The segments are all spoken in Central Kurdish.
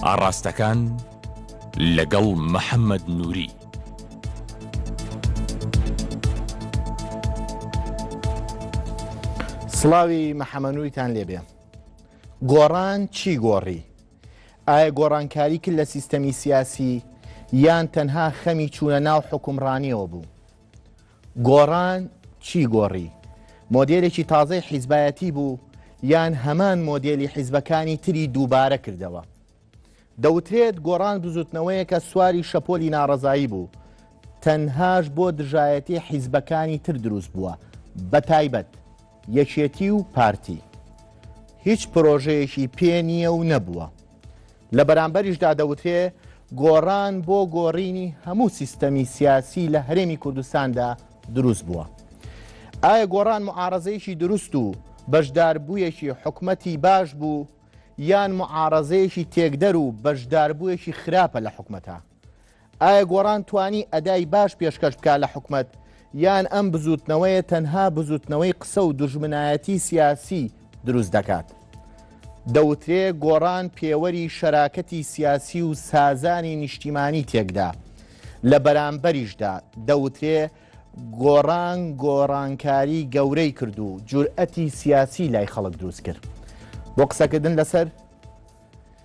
ئاڕاستەکان لەگەڵ محەممەد نووری سڵاوی محەمەنووریتان لێبێ گۆڕان چی گۆڕی ئایا گۆڕانکاری کرد لە سیستەمی سیاسی یان تەنها خەمی چوونە ناو حکومڕانیەوە بوو گۆڕان چی گۆڕی؟ مۆدێلێکی تازەی حیزبایەتی بوو یان هەمان مۆدێلی حیزبەکانی تری دووبارە کردەوە؟ دەوترێت گۆڕان بزوتنەوەیەکە سواری شەپۆلی ناڕەزایی بوو تەنهاش بۆ دژایەتی حیزبەکانی تر دروست بووە بە تایبەت یەکێتی و پارتی هیچ پرۆژەیەکی پێ نییە و نەبووە لە بەرامبەریشدا دەوترێ گۆڕان بۆ گۆڕینی هەموو سیستەمی سیاسی لە هەرێمی کوردستاندا دروست بووە. ئایا گۆڕان معارەزەیەکی دروست و بەشداربوویەکی حکومەتی باش بوو یان معارەزەیەکی تێکدەر و بەشداربوویەکی خراپە لە حکومەتە؟ ئایا گۆڕان توانی ئەدای باش پێشکەش بکات لە حکومەت یان ئەم بزوتنەوەیە تەنها بزوتنەوەی قسە و دژمنایەتی سیاسی دروست دەکات؟ دەوترێ گۆڕان پێوەری شەراکەتی سیاسی و سازانی نیشتیمانی تێکدا لە بەرامبەریشدا دەوترێ گۆڕان گۆڕانکاری گەورەی کرد و جورئەتی سیاسی لای خەڵک دروست کرد بۆ قسەکردن لەسەر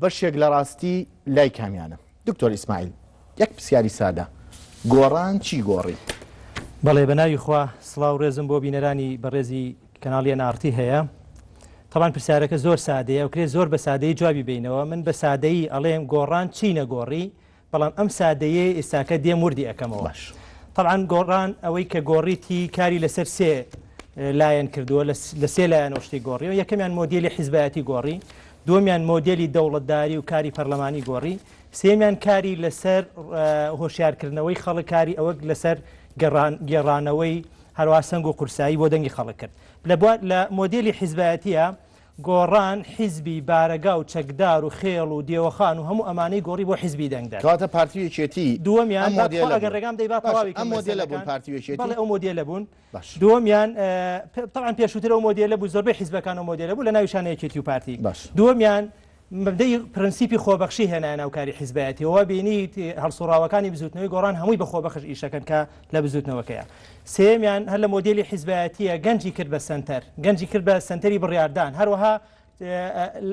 بەشێک لە ڕاستی لای کامیانە؟ دکتۆر ئیسماعیل یەک پسیاری سادە گۆڕان چی گۆڕی؟ بەڵێ بەناوی خوا سڵاو ڕێزم بۆ بینەرانی بەڕێزی کەناڵی ئەن ئاڕتی هەیە تەبان پرسیارەکە زۆر سادەیە ئەوکرێ زۆر بە سادەی جوابی بینەوە من بە سادەیی ئەڵێم گۆڕان چی نەگۆڕی بەڵام ئەم سادەیەی ئیستاکە دێم وردی ئەکەمەوە باش. تەبعەن گۆڕان ئەوەی کە گۆڕیتی کاری لەسەر سێ لایەن کردووە لە سێ لایەنەوە شتی گۆڕیەوە یەکەمیان مۆدیلی حیزبایەتی گۆڕی دومیان مۆدیلی دەوڵەتداری و کاری پەرلەمانی گۆڕی سێمیان کاری لەسەر هۆشیارکردنەوەی خەڵکاری ئەوەک لەسەر گێڕانەوەی هەروە سنگ و قورسایی بۆ دەنگی خەڵک کرد لە لە مۆدیلی حیزبایەتە گۆڕان حیزبی بارەگا و چەکدار و خێڵ و دێوەخان و هەموو ئەمانەی گۆڕی بۆ حیزبی دەنگدەر. کەواتە پارتی و یەکێتی دووەمیان ئەم با تخوا مۆدێلە ئەگەر بوون. ڕێگام دەی با باشە تەواوی ئەم کەم مۆدێلە بوون مەسەلەکان. پارتی و یەکێتی؟ بەڵێ ئەو مۆدێلە بوون. باشە. دووەمیان اه، پ، تەبعەن پێشووتر ئەو مۆدێلە بوو زۆربەی حیزبەکان ئەو مۆدێلە بوو لە ناویشانە یەکێتی و پارتی. باشە. دووەمیان، مەبدەئی پرنسیپی خۆبەخشی هێنایە ناو کاری حیزبایەتی و وا بینیت هەڵسوڕاوەکانی بزووتنەوەی گۆڕان هەمووی بە خۆبەخش ئیشەکەن کە لە بزووتنەوەکەیە سێیەمیان هەر لە مۆدێلی حیزبایەتییە گەنجی کرد بە سەنتەر گەنجی کرد بە سەنتەری بڕیاردان هەروەها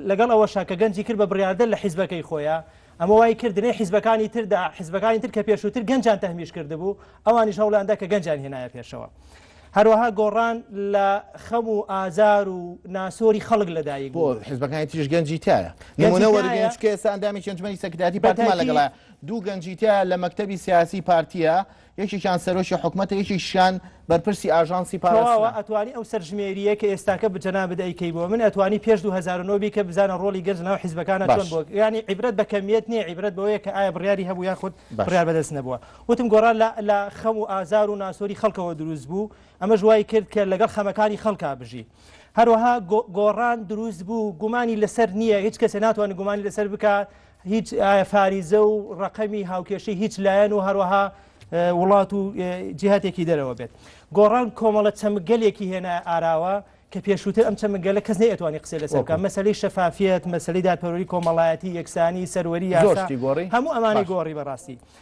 لەگەڵ ئەوەشا کە گەنجی کرد بە بڕیاردە لە حیزبەکەی خۆیە ئەمە وای کرد لێ حیزبەکانی تردا حیزبەکانی تر کە پێشووتر گەنجان تەهمیش کردبوو ئەوانیش هەوڵیاندا کە گەنجان هێنایە پێشەوە. هەروەها گۆڕان لە خەم و ئازار و ناسۆری خەڵک لەدایک بۆ بوون. حزبەکانی تریش گەنجی تایە نمونە گەنجی وەرگرن تایە. چونکە ئێستا ئەندامێکی ئەنجومەنی سەکرتایەتی بە پارتمان تاکید. لەگەڵە دوو گەنجی تایە لە مەکتەبی سیاسی پارتیە یەکێکیان سەرۆکی حکومەتە یەکێکیشیان بەرپرسی ئاژانسی تەواوە پاراستنە. ئەتوانی ئەو سەرژمێرییە کە ئێستاکە بە جەنابت ئەیکەی بۆ من ئەتوانی پێش دوو هەزار و نۆ بیکە بزانە ڕۆڵی گەنج لەناو حزبەکانا چۆن باش. بووە یانی عیبرەت بە کەمیەت نییە عیبرەت بەوەیە کە ئایا بڕیاری هەبوو یاخود باش. بڕیار بەدەست نەبووە. وتم گۆڕان لە خەم و ئازار و ناسۆری خەڵکەوە دروست بوو، ئەمەش وای کرد کە لەگەڵ خەمەکانی خەڵکا بژی. هەروەها گۆڕان دروست بوو، گومانی لەسەر نییە، هیچ کەسێ ناتوانێت گومانی لەسەر بکا، هیچ فاریزە و ڕەقەمی هاوکێشەی هیچ لایەن و هەروەها وڵات و جیهاتێکی دەرەوە بێت. گۆڕان کۆمەڵە چەمکگەلێکی هێنایە ئاراوە کە پێشووتر ئەم چەمکگەلە کەس نەیئەتوانی قسەی لەسەر بکا. مەسەلەی شەفافیەت، مەسەلەی دادپەروەری کۆمەڵایەتی، یەکسانی، سەروەری، یاسا، هەموو ئەمانەی گۆڕی بەڕاستی.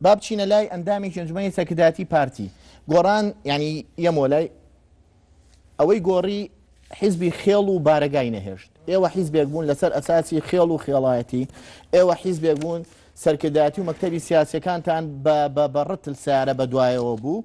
با بچینە لای ئەندامێکی ئەنجومەنی سەرکردایەتی پارتی گۆڕان یعنی یەمۆ لای ئەوەی گۆڕی حیزبی خێڵ و بارەگای نەهێشت ئێوە حیزبێک بوون لەسەر ئەساسی خێڵ و خێڵایەتی ئێوە حیزبێک بوون سەرکردایەتی و مەکتەبی سیاسەکانتان بە بەڕتل سارە بە دوایەوە بوو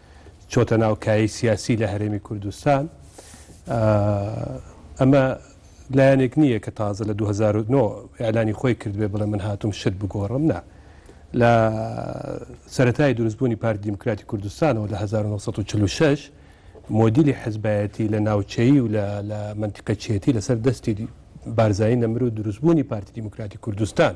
چۆتە ناو کایەی سیاسی لە هەرێمی کوردستان ئەمە لایەنێک نییە کە تازە لە 2009 ئەلانی خۆی کردبێ بڵێ من هاتوم شت بگۆڕم نا لە سەتای دروستبوونی پارت دیموکراتی کوردستانەوە لە 1946 مۆدیلی حزبایەتی لە ناوچەیی و لە منتیقەچێتی لەسەر دەستی بارزایی نەمر و دروستبوونی پارتی دیموکراتی کوردستان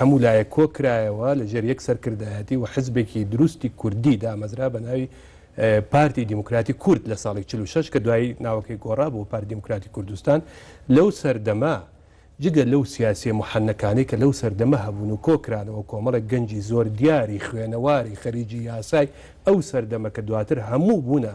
هەموو لایەک کۆ کرایەوە لە ژێر یەک سەرکردایەتی و حزبێکی دروستی کوردی دامەزرا بە ناوی پارتی دیموکراتی کورد لە ساڵی چل و شەش کە دوایی ناوەکەی گۆڕا بۆ پارتی دیموکراتی کوردستان لەو سەردەمە جگە لەو سیاسیە موحەنەکانەی کە لەو سەردەمە هەبوون و کۆ کرانەوە کۆمەڵێک گەنجی زۆر دیاری خوێنەواری خەریکی یاسای ئەو سەردەمە کە دواتر هەموو بوونە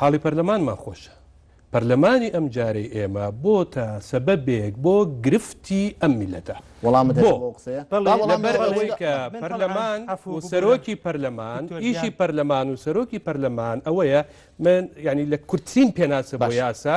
حاڵی پەرلەمانمان خۆشە. پەرلەمانی ئەم جارەی ئێمە بۆتە سەبەبێک بۆ گرفتی ئەم میللەتە. وەڵامت دەدەم بۆ ئەو قسەیە؟ بەڵێ لەبەر ئەوەی کە پەرلەمان و سەرۆکی پەرلەمان ئیشی پەرلەمان و سەرۆکی پەرلەمان ئەوەیە من یانی لە کورتترین پێناسە بۆ یاسا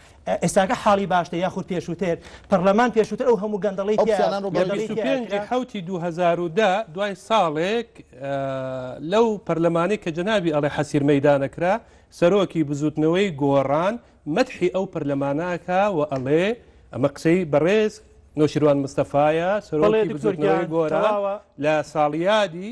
ئێستاکە حاڵی باشتە یاخود پێشووتر؟ پەڕلەمان پێشووتر ئەو هەموو گەندەڵی ئەو تیا قسانان ڕۆ گەندەڵی بەرگری تیا پێنج کرا. حوتی دوو هەزار و دە دوای ساڵێک ئە، لەو پەرلەمانەی کە جەنابی ئەڵێ حەسیر مەیدانە کرا، سەرۆکی بزووتنەوەی گۆڕان مەدحی ئەو پەرلەمانە ئەکا و ئەڵێ، ئەمە قسەی بەڕێز نەوشیروان مستەفایە بەڵێ سەرۆکی دکتۆر بزووتنەوەی گیان گۆران تەواوە. لە ساڵیادی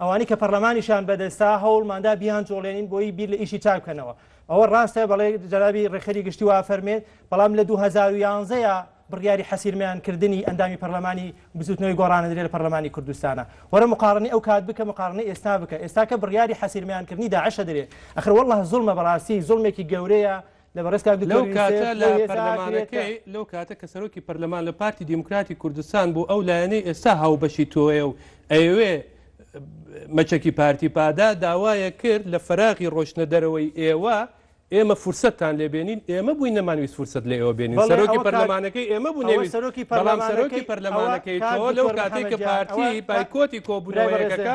ئەوانەی کە پەڕلەمانیشیان بەدەستە هەوڵماندا بیانجوڵێنین بۆی بیر لە ئیشی چاک بکەنەوە ئەوە ڕاستە بەڵێ جەنابی ڕێکخەری گشتی وا فەرمێت بەڵام لە 2011 ە بڕیاری حەسیرمیان کردنی ئەندامی پەرلەمانی بزوتنەوەی گۆڕانەدرێ لە پەرلەمانی کوردستانە وەرە مقارنی ئەو کات بکە مقارنی ئێستا بکە ئێستاکە بڕیاری حەسیرمیان کردنی داعشە درێ ئەخر والله زوڵمە بەڕاستی زوڵمێکی گەورەیە لەو کاتە لە پەرلەمانەکەی، لەو کاتە کە سەرۆکی پەرلەمان لە پارتی دیموکراتی کوردستان بوو، ئەو لایەنەی ئێستا هاوبەشی تۆیە و ئەیەوێ مەچەکی پارتی پادا، داوایەک کرد لە فەراغی ڕۆشتنە دەرەوەی ئێوە، ئێمە فرسەتتان لێ بێنین، ئێمە بووین نەمانویست فرسەت لە ئێوە بێنین، سەرۆکی پەرلەمانەکەی ئێمە بوو نەیویست، بەڵام سەرۆکی پەرلەمانەکەی تۆ لەو کاتەی کە پارتی بایکۆتی کۆبوونەوە یەکەکە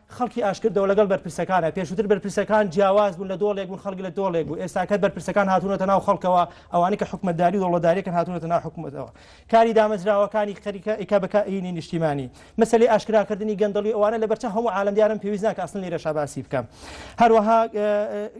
خەڵکی ئاشکردەوە لەگەڵ بەرپرسەکانا پێشوتر بەرپرسەکان جیاواز بوون لە دۆڵێک بوون خەڵک لە دۆڵێک بوو ئێستا کە بەرپرسەکان هاتوونەتە ناو خەڵکەوە ئەوانەی کە حکومەتداری و دەوڵەتداریەکەن هاتوونەتە ناو حکومەتەوە کاری دامەزراوەکانی خەریکە ئیکا بە کائینی نیشتیمانی مەسەلەی ئاشکراکردنی گەندەڵی ئەوانە لەبەرچاو هەموو عالەم دیارن پێویست ناکە ئەسڵن لێرەشا باسی بکەم هەروەها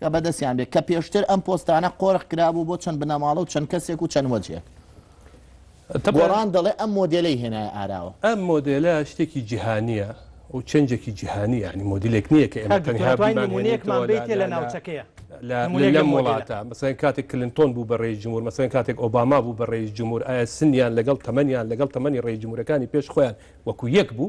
کە بەدەستیان بێت کە پێشتر ئەم پۆستانە قۆرخ کرابوو بۆ چەند بنەماڵە و چەند کەسێک و چەند وەجهێک. گۆڕان دەڵێ ئەم مۆدێلەی هێنایە ئاراوە. ئەم مۆدێلە شتێکی جیهانییە و چێنجێکی جیهانی یانی مۆدیلێک نییە کە ئێمە تەنها بیمانهێنیتەوە لە لەم وڵاتە. مەسەلەن کاتێک کلنتۆن بوو بە رەئیس جمهور، مەسەلەن کاتێک ئۆباما بوو بە رەئیس جمهور، ئایا سنیان لەگەڵ تەمەنیان لەگەڵ تەمەنی رەئیس جمهورەکانی پێش خۆیان وەکوو یەک بوو؟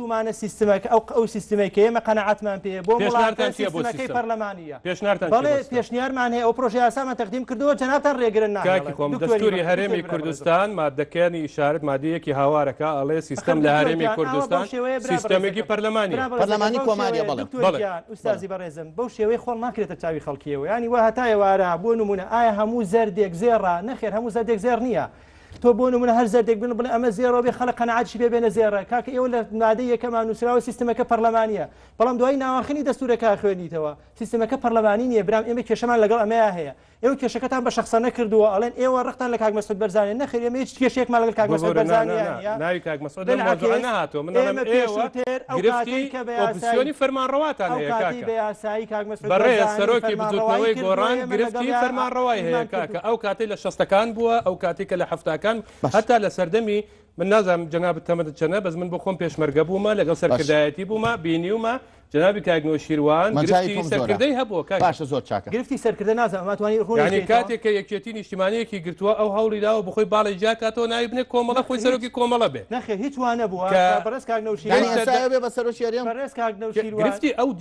پێشنیارتومانە سیستمەکە ئەو ئەو سیستمەی کە ئێمە قەناعەتمان پێیە بۆ مڵاقەی سیستمەکەی پەرلەمانیە بەڵێ پێشنیارمان هەیە ئەو پرۆژە یاسامان تەقدیم کردووە جەنابتان رێگرن ناکاکی خۆم دەستوری هەرێمی کوردستان مادەکانی ئیشارەت مادەیەکی هاوارەکە ئەڵێ سیستم لە هەرێمی کوردستان سیستمێکی پەرلەمانی پەرلەمانی کۆماریە بەڵێ ئوستازی بەڕێزم بەو شێوەی خۆڵ ناکرێتە چاوی خەڵکیەوە ینی وە هەتایە وارە بۆ نمونە ئایا هەموو زەردێک زێڕە نەخێر هەموو زەردێک زێر نییە تۆ بۆ نمونە هەر زەردێک بن بڵێ ئەمە زێڕەوە بێ خەڵک قەناعەتشی پێ بێنە زێڕە کاکە ئێوە لە مادەی یەکەمان نووسراوە سیستمەکە پەرلەمانیە بەڵام دوای ناواخنی دەستورەکە خوێنیتەوە سیستمەکە پەرلەمانی نییە برام ئێمە کێشەمان لەگەڵ ئەمەیە هەیە ئێوە کێشەکەتان بە شخصە نەکردووە ئەڵێن ئێوە ڕقتان لە کاک مەسعود بەرزانێ نەخێر ئێمە هیچ کێشێکمان لەگەڵ کاک مەسعود بەرزانێ ناوی کاک مەسعود لەم مەسعود نەهاتوە من ئەڵێم ئێوە تێر ئەو کاتەی کە بە یاسایی فەرمانڕەواتان هەیە کاکە بە یاسایی کاک بەڕێز سەرۆکی بزوتنەوەی گۆڕان گرفتی فەرمانڕەوای هەیە کاکە ئەو کاتی لە شەستەکان بووە ئەو کاتی کە لە هەفتاکان هەتا لە سەردەمی من نازانم جەناب تەمەت چەنە بەس من بۆ خۆم پێشمەرگە بوومە لەگەڵ سەرکردایەتی بوومە بینیومە جنابی کاگنەوە شیروان سەرکردەی هەبووە باشە زۆر چاکە گرفتی سەرکردە نازانماتوانی ڕوونی کاتێک کە یەکێتی نیشتیمانەیەکی گرتووە ئەو هەوڵی داوە بخۆی باڵی جیاکاتەوە ناوی بنێ کۆمەڵە خۆی سەرۆکی کۆمەڵە بێ نەخێ هیچوانە بووە بەڕێز کاگنەوشی بە سەرۆکی گرفتی ئەو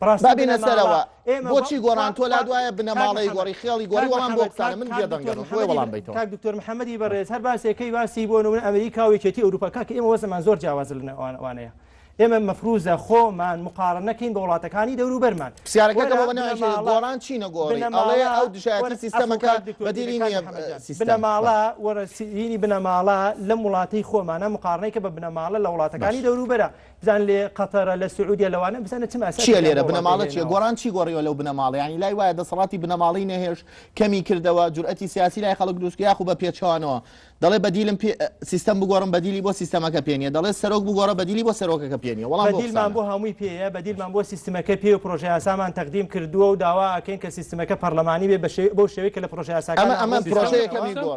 بەڕاستی بنە ماڵە ئێمە بۆچی گۆڕان تۆ لات وایە بنە ماڵەی گۆڕی خێڵی گۆڕی وەڵام بۆ بکانە من جێ دەنگە بۆ وەڵام بیتەوە کاک دکتۆر محەممەدی بەڕێز هەر باسێکەی باسی بۆ نمونە ئەمریکا و یەکێتی ئەوروپا کاک ئێمە وەزمان زۆر جیاواز لە ئەوانەیە ئێمە مەفروزە خۆمان مقارن نەکەین بە وڵاتەکانی دەورو بەرمان پرسیارەکەگۆڕان چی نەگۆڕنەماڵەیە ئەو دژایەتی سیستەمەکە بەدیری بنەماڵە وەرەسیینی بنەماڵە لەم وڵاتی خۆمانە مقارنەی کە بە بنەماڵە لە وڵاتەکانی دەوروبەرە بزان لە قەتەرە لە سعودیە لەوانە بزانە چ ماسا چیە لێرە بنەماڵە چیە گۆڕان چی گۆڕیوە لەو بنەماڵە ینی لای وایە دەسەڵاتی بنەماڵی نەهێش کەمی کردەوە جورئەتی سیاسی لای خەڵک دروست یاخو بە پێچوانەوە دەڵێ بەدیلم سیستم بگۆڕم بەدیلی بۆ سیستەمەکە پێنیە دەڵێ سەرۆک بگۆڕە بەدیلی بۆ سەرۆکەکە پێنیە وڵام بەدیلمان بۆ هەمووی پێەیە بەدیلمان بۆ سیستمەکە پێ و پرۆژه یاسامان تەقدیم کردووە و داوا ئەکەین کە سیستمەکە پەرلەمانی بێ بەشێ بۆ شێوەی کە لە پرۆژه یاساکە ئەمە ئەمە پرۆژەکەمی گۆڕ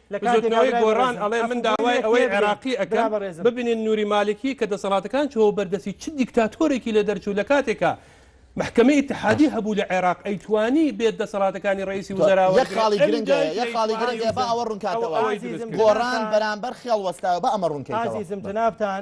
بزوتنەوەی گۆڕان ئەڵێ من داوای ئەوەی عێراقی ئەکەم ببینین نوری مالکی کە دەسەڵاتەکان چوەوە بەر دەستی چ دیکتاتۆرێکی لێ دەرچوو لە کاتێکا مەحکەمەی ئیتحادی هەبوو لە عێراق ئەیتوانی بێت دەسەڵاتەکانی ڕەیسی وزەرا وەرگرێت یەک خاڵی گرنگە یەک خاڵی گرنگە با ئەوە ڕوونکاتەوە گۆڕان بەرامبەر خێڵ وەستایەوە با ئەمە ڕوونکەیتەوە ئازیزم جەنابتان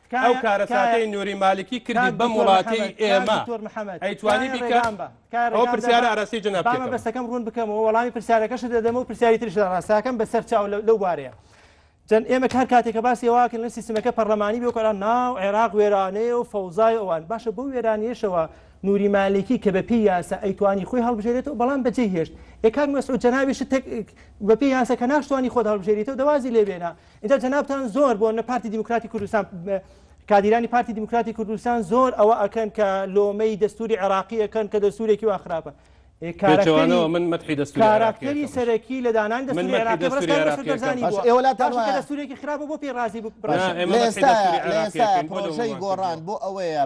ئەو کارەساتەی نوری مالکی کردی بەم وڵاتەی ئێمە ئەیتوانی بیکە ئەو پرسیارە ئاراستەی جەنابت کردم. بابە بەسەکەم ڕوون بکەمەوە وەڵامی پرسیارەکەشت دەدەمە و پرسیاری تریش لە ڕاستاکەم بەسەر چاو لە- لەو بارەیە جەن ئێمە هەر کاتێک کە باسی ئەوە کردن سیستمەکە پەرلەمانی بێ کۆلا ناو عێراق وێرانەیە و فەوزای ئەوان باشە بەو وێرانیەشەوە نوری مالکی کە بە پێی یاسا ئەیتوانی خۆی هەڵبژێرێتەوە بەڵام بەجێ هێشت ئێ کاک مەسعود جەنابیشت تەک بە پێی یاسا کە ناشتوانی خۆت هەڵبژێریتەوە دەوازی لێ بێنە ئیتر جەنابتان زۆر بۆ نە پارتی دیموکراتی کوردستان کادیرانی پارتی دیموکراتی کوردستان زۆر ئەوە ئەکەن کە لۆمەی دەستوری عێراقیەکەن کە دەستورێکی وا خراپە کارەکەەوە من مەحی دەستکارەکەری سەرەکی لە دانان دەستورێکی خراپە بۆ پێی رازی بکڕێکی گۆڕان بۆ ئەوەیە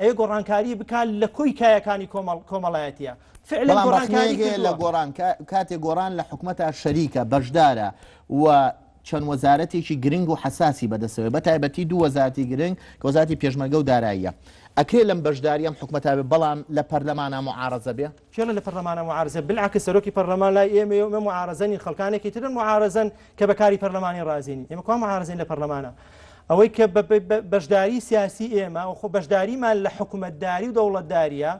ئەیە گۆڕانکاری بکا لە کۆی کایەکانی کۆمەڵ کۆمەڵایەتیە فعلا بەڵام گۆڕانکاری ڕەخنەیەک هەیە لە کردووە گۆڕان کا- کاتێ گۆڕان لە حکومەتا شەریکە بەشدارە و چەند وەزارەتێکی گرنگ و حەساسی بەدەستەوەیە بەتایبەتی دوو وەزارەتی گرنگ کە وەزارەتی پێشمەرگە و داراییە ئەکرێ لەم بەشداری ئەم حکومەتا بێ بەڵام لە پەرلەمانا معارەزە بێ کێڵە لە پەرلەمانە معارزە بالعکس سەرۆکی پەرلەمان لای ئێمەیە و ئێمە معارزە نین خەڵکانێکی ترن معارزەن کە بە کاری پەرلەمانی ڕازی نین ئێمە کوا معارزەین لە پەرلەمانە ئەوەی کە بە- بە- بە- بەشداری سیاسی ئێمە و خۆ بەشداریمان لە حکومەتداری و دەوڵەتداریە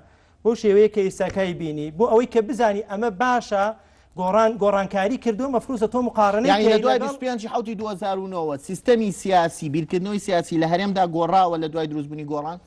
بۆ شێوەیە کە ئیساکای بینی بۆ ئەوەی کە بزانی ئەمە باشە گۆڕان گۆڕانکاری کردو مەفروزە تۆ مقارنەی یانی لە کەی دوای لەگەڵ 25 ی حەوتی 2009 وە سیستەمی سیاسی بیرکردنەوەی سیاسی لە هەرێمدا گۆڕاوە لە دوای دروستبوونی گۆڕان؟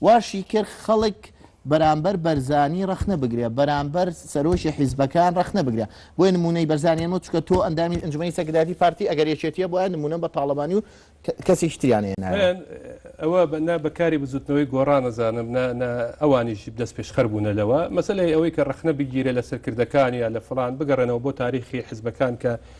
واشی کرد خەڵک بەرامبەر بەرزانی ڕەخنە بگرێ بەرامبەر سەرۆکی حیزبەکان ڕەخنە بگرێ بۆیە نموونەی بەرزانیان وت چونکە تۆ ئەندامی ئەنجومەنی سەرکردایەتی پارتی ئەگەر یەکێتیە بۆیە نموونەم بە تاڵەبانی و کەسێکی تریان هێنایەوە. من ئەوە نا بە کاری بزووتنەوەی گۆڕان ئەزانم نا نا ئەوانیش دەستپێشخەر بوونە لەوە، مەسەلەی ئەوەی کە ڕەخنە بگیرێ لە سەرکردەکان یا لە فڵان بگەڕێنەوە بۆ تاریخی حیزبەکان کە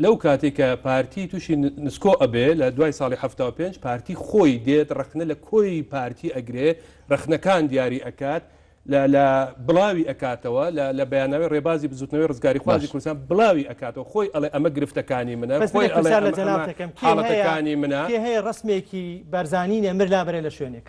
لەو کاتەی کە پارتی توشی نسکۆ ئەبێ لە دوای ساڵی حەفتا و پێنج پارتی خۆی دێت ڕەخنە لە کۆی پارتی ئەگرێ ڕەخنەکان دیاری ئەکات لە لە بڵاوی ئەکاتەوە لە لە بەیانناوەی ڕێبازی بزوتنەوەی ڕزگاریخوازی باش کوردستان بڵاوی ئەکاتەوە خۆی ئەڵێ ئەمە گرفتەکانی منە بەس من خۆی یەک ئەڵێ پرسیار لە ئەمە ئەمە جەنابتەکەم کێ هەیە حاڵەتەکانی منە. کێ هەیە ڕەسمێکی بارزانی نەمر لابەرێ لە شوێنێک.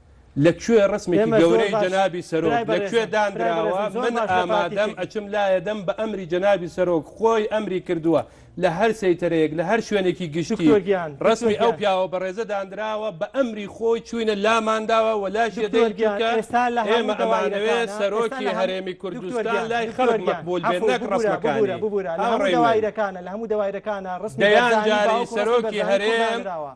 لە کوێ ڕسمێکی گەورەی جەنابی سەرۆک لە کوێ دانراوە من ئامادەم ئەچم لایە دەم بە ئەمری جەنابی سەرۆک خۆی ئەمری کردووە لە هەر سەیتەرەیەک لە هەر شوێنێکی گشتی ڕسمی ئەو پیاوە بەڕێزە دانراوە بە ئەمری خۆی چوینە لامانداوە و لا ئێمە ئەمانەوێت سەرۆکی هەرێمی کوردستان لای خەڵک مەقبول بێت نەک ڕسمەکانی ئەو ڕێوایرەکانە لە هەموو دەوایرەکانە ڕست دەیان جاری سەرۆکی هەرێم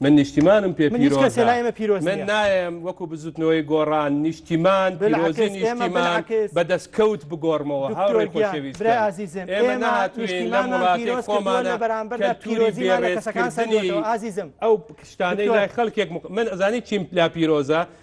من نیشتیمانم پێ پیرۆزە، من نایەم وەکو بزوتنەوەی گۆڕان نیشتیمان پیرۆزی نیشتیمان بە دەستکەوت بگۆڕمەوە هاوڕێ خۆشەویستان ئێمە نەهاتووین لەم وڵاتەی خۆمانە کەلتوری بێڕێزکردنی ئەو شتانەی لای خەڵکێک من ئەزانی چیم لا پیرۆزە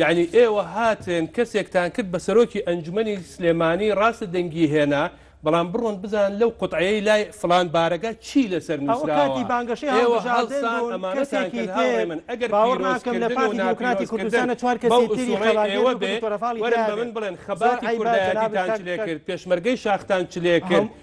یەعنی ئێوە هاتن کەسێکتان کرد بە سەرۆکی ئەنجومەنی سلێمانی ڕاستە دەنگی هێنا بەڵام بڕۆن بزانن لەو قوتعەیەی لای فڵان بارەگا چی لەسەر نوسراوە ئێوە هەڵسان ئەمانەتان کرد هاوڕێ من ئەگەر پیرۆزکردن و ناپیرۆزکردن بەو ئسوڵەی ئێوە بێ وەرن بە من بڵێن خەباتی کوردایەتیتان چ لێ کرد پێشمەرگەی شاختان چ لێ کرد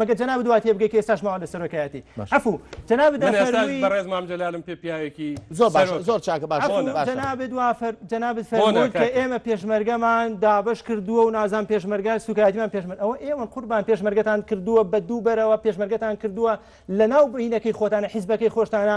مەگەر جەنابت وا تێبگەی کە ئێستاش ماوە لە سەرۆکایەتی باش عەفوو جەنابت من ئێستاش ئەفەرمووی بەڕێز مام جەلالم پێ پیاوێکی زۆر باشە سەرۆکە زۆر چاکە باشە عەفوو بۆنە باشە جەنابت وا فەر جەنابت بۆنە فەرمووت کە کاکە ئێمە پێشمەرگەمان دابەش کردووە و نازان پێشمەرگە سووکایەتیمان پێشمەرگە ئەوە ئێوەن قوربان پێشمەرگەتان کردووە بە دوو بەرەوە پێشمەرگەتان کردووە لەناو بینەکەی خۆتانە حیزبەکەی خۆشتانە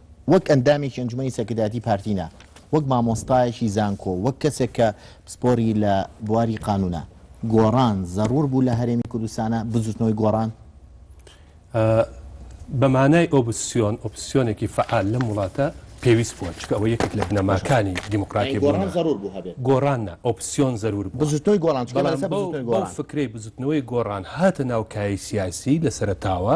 وەک ئەندامێکی ئەنجومەنی سەرکردایەتی پارتی نا، وەک مامۆستایەکی زانکۆ، وەک کەسێک کە پسپۆری لە بواری قانونە، گۆڕان زەرور بوو لە هەرێمی کوردستانا، بزوتنەوەی گۆڕان؟ بە مانای ئۆبسیۆن، ئۆپسیۆنێکی فەعال لەم وڵاتە پێویست بووە، چونکە ئەوە یەکێک لە بنەماکانی دیموکراتی بوونە. یانی گۆڕان زەرور بوو هەبێت؟ گۆڕان نا، ئۆپسیۆن زەرور بووە. بزوتنەوەی گۆڕان، چونکە ئێمە لەسەر بزوتنەوەی گۆڕان. بەڵام بەو فکرەی بزوتنەوەی گۆڕان هاتە ناو کایەی سیاسی لە سەرەتاوە،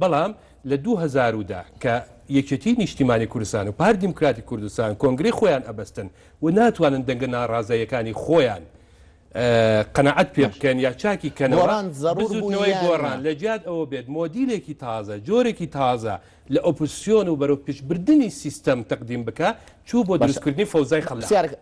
بەڵام لە دوو هەزار و دە کە یەکێتیی نیشتیمانی کوردستان و پارتی دیموکراتی کوردستان کۆنگرەی خۆیان ئەبەستن و ناتوانن دەنگە ناڕازاییەکانی خۆیان قەناعەت پێ باشە. بکەن یا چاکی کەنەوە، گۆڕان زەڕوور بوو بزووتنەوەی یان نا؟ گۆڕان لە جیات ئەوە بێت مۆدیلێکی تازە، جۆرێکی تازە لە ئۆپۆزسیۆن و بەرەو پشتبردنی سیستەم تەقدیم بکا، چوو بۆ باشە. دروستکردنی فەوزای با خەلاق. پرسیارەکە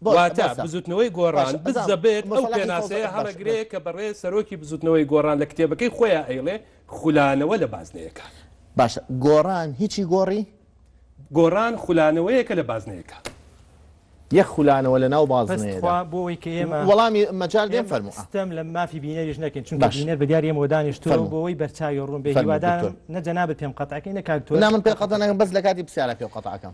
بۆ واتا بۆسە. بزووتنەوەی باشە، گۆڕان بزنە بزانم بێت ئەو مەسەلەکەی فەوزا پێناسەیە باشە، بۆ؟ هەڵەگرێ کە بەڕێز سەرۆکی بزووتنەوەی گۆڕان لە کتێبەکەی خۆیا ئەیڵێ خولانەوە لە بازنەیەکان. باشە گۆڕان هیچی گۆڕی؟ گۆڕان خولانەوەیەکە لە بازنەیەکان. یەک خولانەوە لە ناو بەس بازنەیەدا. تخوا بۆ ئەوەی کە ئێمە وەڵامی مەجال دێم ئێمە فەرموو. ئا. ستەم لە مافی بینەریش نەکەین چونکە باش. بینەر بە دیاری ئێمەوە دانیشتووە و فەرموو. بۆ ئەوەی بەرچاوی ڕوون بێ فەرموو هیوادارم دکتۆر. نە جەنابت پێم قەتعکەی نە کاک تۆش نا من پێت قەتع ناکەم بەس لە کاتی پرسیارا پێو قەتع ئەکەم.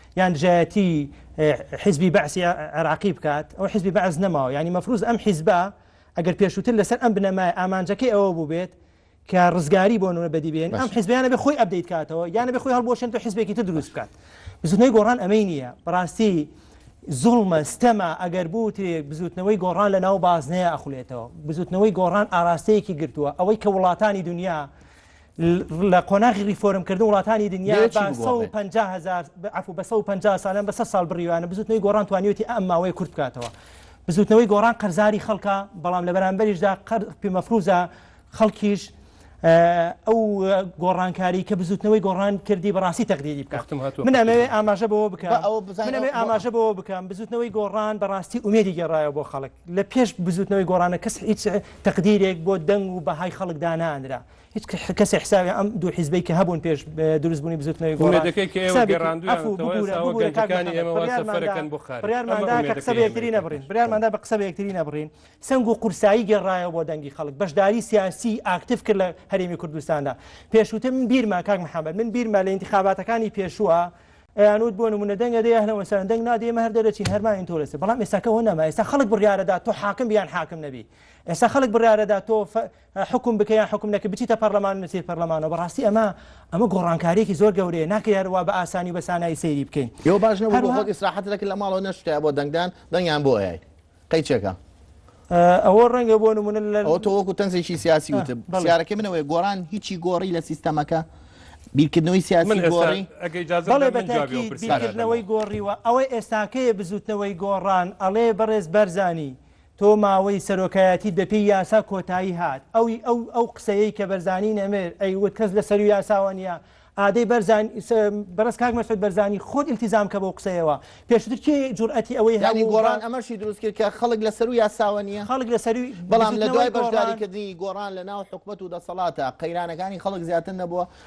یان دژایەتی حیزبی بەعسی عێراقی بکات ئەو حیزبی بەعس نەماوە ینی مەفروز ئەم حیزبە ئەگەر پێشووتر لەسەر ئەم بنەمای ئامانجەکەی ئەوە بوو بێت کە ڕزگاری بۆ نوە بەدی بێن ئەم حزبیانە بە خۆی ئەبدەیت کاتەوە یانە بە خۆی هەڵبۆشێن تۆ حزبێکی تر دروست بکات بزنەی گۆڕان ئەمەی نییە بەڕاستی زوڵمە ستەما ئەگەر بوترێ بزوتنەوەی گۆڕان لە ناو بازنەیە ئەخولێتەوە بزوتنەوەی گۆڕان ئاراستەیەکی گرتووە ئەوەی کە وڵاتانی دنیا لە قۆناغی ریفۆرم کردن وڵاتانی دنیا بە سەد و پەنجا هەزار عەفو بە سەد و پەنجا سالان بە سەد ساڵ بڕیوانە بزوتنەوەی گۆڕان توانیویەتی ئەم ماوەیە کورت بکاتەوە بزوتنەوەی گۆڕان قەرزاری خەڵکە بەڵام لە بەرامبەریشدا قەر پێ مەفروزە خەڵکیش ئەو گۆڕانکاری کە بزوتنەوەی گۆڕان کردی بەڕاستی تەقدیری بکاتم من ئەمەوێ ئاماژە بەوە بکەم منەوێ ئاماژە بەوە بکەم بزوتنەوەی گۆڕان بەڕاستی ئومێدی گەڕایە بۆ خەڵک لە پێش بزوتنەوەی گۆڕانە کەس هیچ تەقدیرێک بۆ دەنگ و بەهای خەڵکدانانرا هیچ کەسێ حسابی ئەم دوو حیزبەی کە هەبوون پێش دروست بوونی بزوتنەوەی گۆڕان ئومێدەکەی کە ئێوە گێڕاندوویانەتەوە ئێستا وەک گەنجەکانی ئێمە وا سەفەرەکەن بۆ خارج ئەمە ئومێدەکەی قسە بە یەکتری نەبڕین بڕیارماندا بە قسە بە یەکتری نەبڕین سەنگ و قورسایی گێڕایەوە بۆ دەنگی خەڵک بەشداری سیاسی ئاکتیف کرد لە هەرێمی کوردستاندا پێشووتر من بیرمە کاک محەممەد من بیرمە لە انتخاباتەکانی پێشووە ئەیانوت بۆ نمونە دەنگە دەیە هەنەوە سەرەن دەنگ نادێ مە هەر دەرەچین هەرمان ئینتۆرەسە بەڵام ئێساکەەوە نەما ئێستا خەڵک بڕارەدا تۆ حاکم بیان حاکم نەبی ئێستا خەڵک بڕارەدا تۆ حوکم بکە یان حوکم نەکە بچیتە پەڕلەمان نەچیت پەڕلەمانەوە بەڕاستی ئەمە ئەمە گۆڕانکاریەکی زۆر گەورەیە ناکرێ هەر وا بە ئاسانی و بە سانایی سەیری بکەین ئێوە باش نەبوو بۆ خۆت ئیسراحەت نەکرد لە ماڵەوە نەشتایە بۆ دەنگدان دەنگیان بۆ ئەیای قەی چێکە ئەوە ڕەنگە بۆ نمونە لە ئەو تۆ وەکو تەنزێکی سیاسی وتە پرسیارەکەی منەوەی گۆڕان هیچی گۆڕی لە سیستەمەکە بیرکردنەوەی سیاسی من گۆڕی ئەگەی جاز بەڵێ بە تاکی بیرکردنەوەی گۆڕیوە ئەوەی ئێستاکەیە بزوتنەوەی گۆڕان ئەڵێ بەڕێز بەرزانی تۆ ماوەی سەرۆکایەتیت بە پێی یاسا کۆتایی هات ئەوی ئەو ئەو قسەیەی کە بەرزانی نەمر ئەی وت کەس لە سەروو یاساوە نیە ئادەی بەرزان بەڕێز کاک مەسعود بەرزانی خۆت ئیلتیزام کە بەو قسەیەوە پێشتر کێ جورئەتی ئەوەی یانی هەبوو گۆڕان ئەمەشی دروست کرد کە خەڵک لە سەروو یاساوە نیە خەڵک لە سەرووی بەڵام لە بزوتنەوەی دوای گۆڕان بەشداریکردنی گۆڕان لە ناو حکومەت و دەسەڵاتە قەیرانەکانی خەڵک زیاتر نەبووە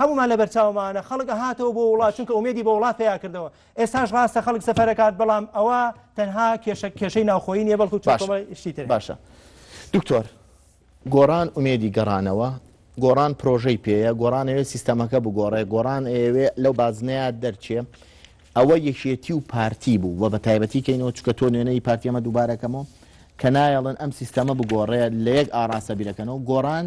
هەموومان لەبەرچاومانە خەڵک ئەهاتەوە بۆ وڵات چونکە ئومێدی بە وڵات پەیا کردەوە ئێستاش ڕاستە خەڵک سەفەرەکات بەڵام ئەوە تەنها کێشە کێشەی ناوخۆیی نیە بەڵکو چی تر باشە دکتۆر گۆڕان ئومێدی گەڕانەوە گۆڕان پرۆژەی پێەیە گۆڕانەوێ سیستەمەکە بگۆڕێ گۆڕان ئەوێ لەو بازنەیە دەرچێ ئەوە یەکێتی و پارتی بوو و بە تایبەتی کەینەوە چکە تۆ نوێنەی پارتیەمە دووبارەکەمەوە کە نایەڵن ئەم سیستەمە بگۆڕێ لە یەک ئاراستە بیرەکەنەوە گۆڕان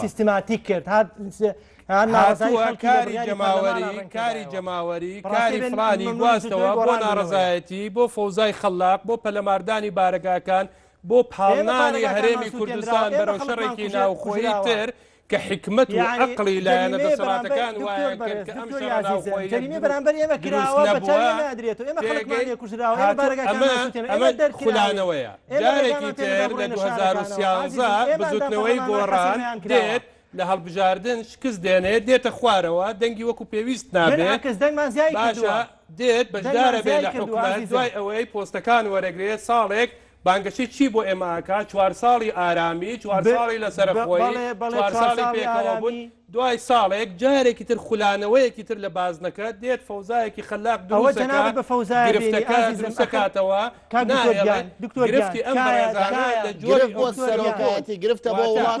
سیستماتیک کرد کاری جەماوەری کاری جەماوەری کاری فلانی گواستەوە بۆ ناڕزایەتی بۆ فەوزای خەللاق بۆ پەلەماردانی بارەگاکان بۆ پاڵنانی هەرێمی کوردستان بەرەو شەڕێکی ناوخۆی تر کە حیکمەت و عەقڵی لایەنە دەسەڵاتەکان وایانکرد کە ئەم شەڕە ناوخۆییە دروست نەبووە، پێگەی هاتوو ئەمە خولانەوەیە، جارێکی تر لە 2013 بزوتنەوەی گۆڕان دێت، لە هەڵبژاردن شکست دێنێت، دێتە خوارەوە، دەنگی وەکو پێویست نابێت، باشە دێت بەشدارەبێت لە حکومەت، دوای ئەوەی پۆستەکان وەرەگرێت، ساڵێک بانگەشەی چی بۆ ئێمە ئەکات چوار ساڵی ئارامی چوار ساڵی لەسەرەخۆیی چوار ساڵی پێکەوە بوون دوای ساڵێک جارێکی تر خولانەوەیەکی تر لە بازنەکە دێت فەوزایەکی خەلاق دەوە جەنابت بە فەوزایە گرفتەکە دروستەکاتەوە کاک دکتۆر گیان دکتۆر گرفتی ئەم بەڕێزانە لە جۆری بۆ سەرۆکایەتی گرفتە بۆ وڵات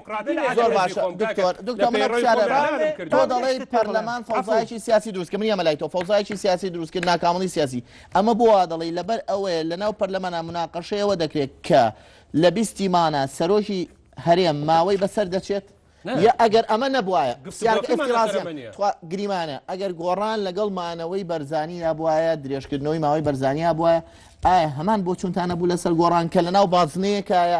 زۆر باشە دکتۆر دکتۆر منە پرسیارە تۆ دەڵێی پەرلەمان فەوزایکی سیاسی دروست کە من ئەمە لای تۆ فەوزایکی سیاسی دروست کرد ناکامڵی سیاسی ئەمە بۆ وا دەڵێی لەبەر ئەوەیە لەناو پەرلەمانە مناقەشەیەوە دەکرێت کە لە بیستی مانە سەرۆکی هەرێم ماوەی بەسەر دەچێت یا ئەگەر ئەمە نەبواە گریمانە ئەگەر گۆڕان لەگەڵ مانەوەی بەرزانی یا بواە درێژکردنەوەی ماوەی بەرزانیا بواە ئایا هەمان بۆ چونتانە بوو لەسەر گۆڕان کە لەناو بازنەیەکایە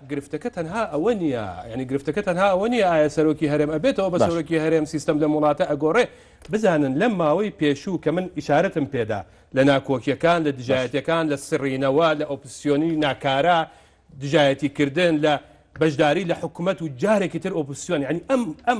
گرفتەکە تەنها ئەوە نیە یعنی گرفتەکە تەنها ئەوە نیە ئایا سەرۆکی هەرێم ئەبێتەوە بە سەرۆکی هەرێم سیستەم لەم وڵاتە ئەگۆڕێ بزانن لەم ماوەی پێشوو کە من ئیشارەتم پێدا لە ناکۆکیەکان لە دژایەتەکان لە سڕینەوە لە ئۆپسیۆنی ناکارا دژایەتی کردن لە بەشداری لە حکومەت و جارێکی تر ئۆپسیۆن ینی ئەم ئەم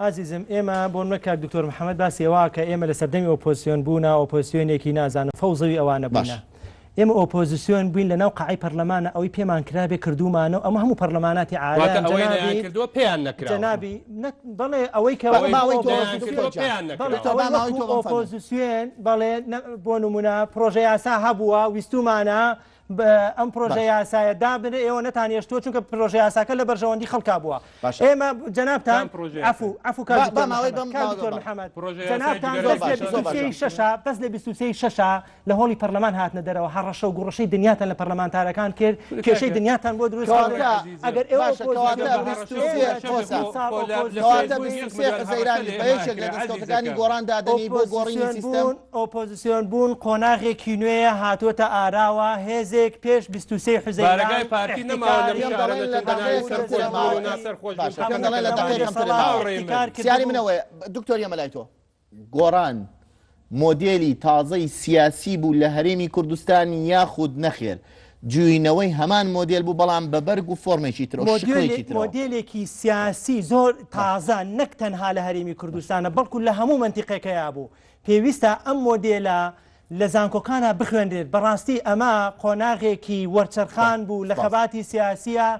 ئازیزم ئێمە بۆ نمونە کاک دکتۆر محمد باسی ئەوە ئەکا ئێمە لە سەردەمی ئۆپۆزسیۆن بوونا ئۆپۆزسیۆنێکی نازانم فەوزەوی ئەوانە بوونا. ئێمە ئۆپۆزسیۆن بووین لە ناو قەعەی پەرلەمانا ئەوەی پێمان کرابێ کردوومانە و ئەمە هەموو پەرلەماناتی عالەم جەنابی جەنابی نە بەڵێ ئەوەی کە ئەوەی ماوەی تۆ دکتۆر جان بەڵێ ئەوەی ماوەی تۆ ئۆپۆزسیۆن بەڵێ بۆ نمونە پرۆژە یاسا هەبووە ویستوومانە ئەم پرۆژە یاسایە دابنێ ئێوە نەتان هێشتووە چونکە پرۆژە یاساکە لە بەرژەوەندی خەڵکا بووە ئێمە جەنابتان شەشا بەس لە بیستی شەشا لە هۆڵی پەرلەمان هاتنە دەرەوە هەڕەشە و گوڕشەی دنیاتان لە پەرلەمانتارەکان کرد کێشەی دنیاتان بۆ دروست ئەگەر ئێوە زەیرانی بە یەکێک لە دەستکەوتەکانی گۆڕان دادنی بۆ گۆڕینی سیستم ئۆپۆزسیۆن بوون قۆناغێکی نوێیە هاتۆتە ئاراوە، هێزێک پێش بیست و سێ حوزەیران ئیحتیکاری دەسەڵات. گۆڕان مۆدێلی تازەی سیاسی بوو لە هەرێمی کوردستان یاخود نەخێر جووینەوەی هەمان مۆدێل بوو بەڵام بە بەرگ و فۆرمێکی تر و شکڵێکی تر؟ مۆدێلێکی سیاسی زۆر تازە نەک تەنها لە هەرێمی کوردستانە بەڵکو لە هەموو مەنتیقێکەیا بوو پێویستە ئەم مۆدێلە لە زانکۆکانا بخوێنرێت، بەڕاستی ئەمە قۆناغێکی وەرچەرخان بوو لە خەباتی سیاسییا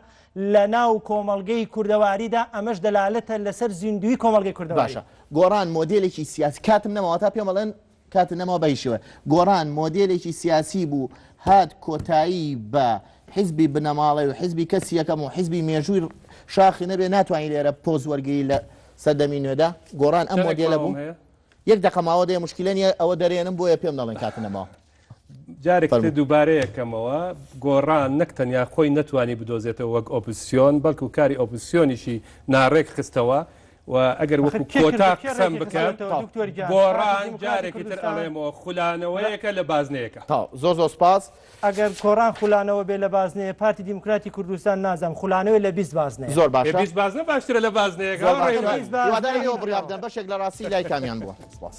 لە ناو کۆمەڵگەی کوردەواریدا، ئەمەش دەلالەتە لەسەر زیندووی کۆمەڵگەی کوردەواری. باشە گۆڕان مۆدێلێکی سیاسی، کاتم نەما واتا پێم ئەڵێن کاتت نەماوە بە هیچ شێوەیەک، گۆڕان مۆدێلێکی سیاسی بوو هات کۆتایی بە حیزبی بنەماڵەی و حیزبی کەسی یەکەم و حیزبی مێژووی شاخی نەبێ ناتوانی لێرە پۆز وەرگری لە سەردەمی نوێدا، گۆڕان ئەم مۆدێلە بوو؟ یەک دەقە ماوە دەیە مشکلە نیە ئەوە دەرێنم بۆیە پێم دەڵێن کات نەماوە. جارێک تر دووبارەیەکەمەوە، گۆڕان نەک تەنیا خۆی نەتوانی بدۆزێتەوە وەک ئۆپزسیۆن، بەڵکو کاری ئۆپزسیۆنیشی ناڕێک خستەوە و ئەگەر وەکو کۆتا قسەم بکەن گۆڕان جارێکی تر ئەڵێمەوە خولانەوەیەکە لە بازنەیەکە. تاو زۆر زۆر سپاس. ئەگەر کۆڕان خولانەوە بێ لە بازنەیە پارتی دیموکراتی کوردستان نازانم خولانەوەی لە بیست بازنەیە. زۆر باشە. بیست بازنە باشترە لە بازنەیەک ها زۆر باشە بیست بازنە هیوادارم ئێوە بڕیار بدەن هیچ بەشێک لە ڕاستی لای کامیان بووە سپاس.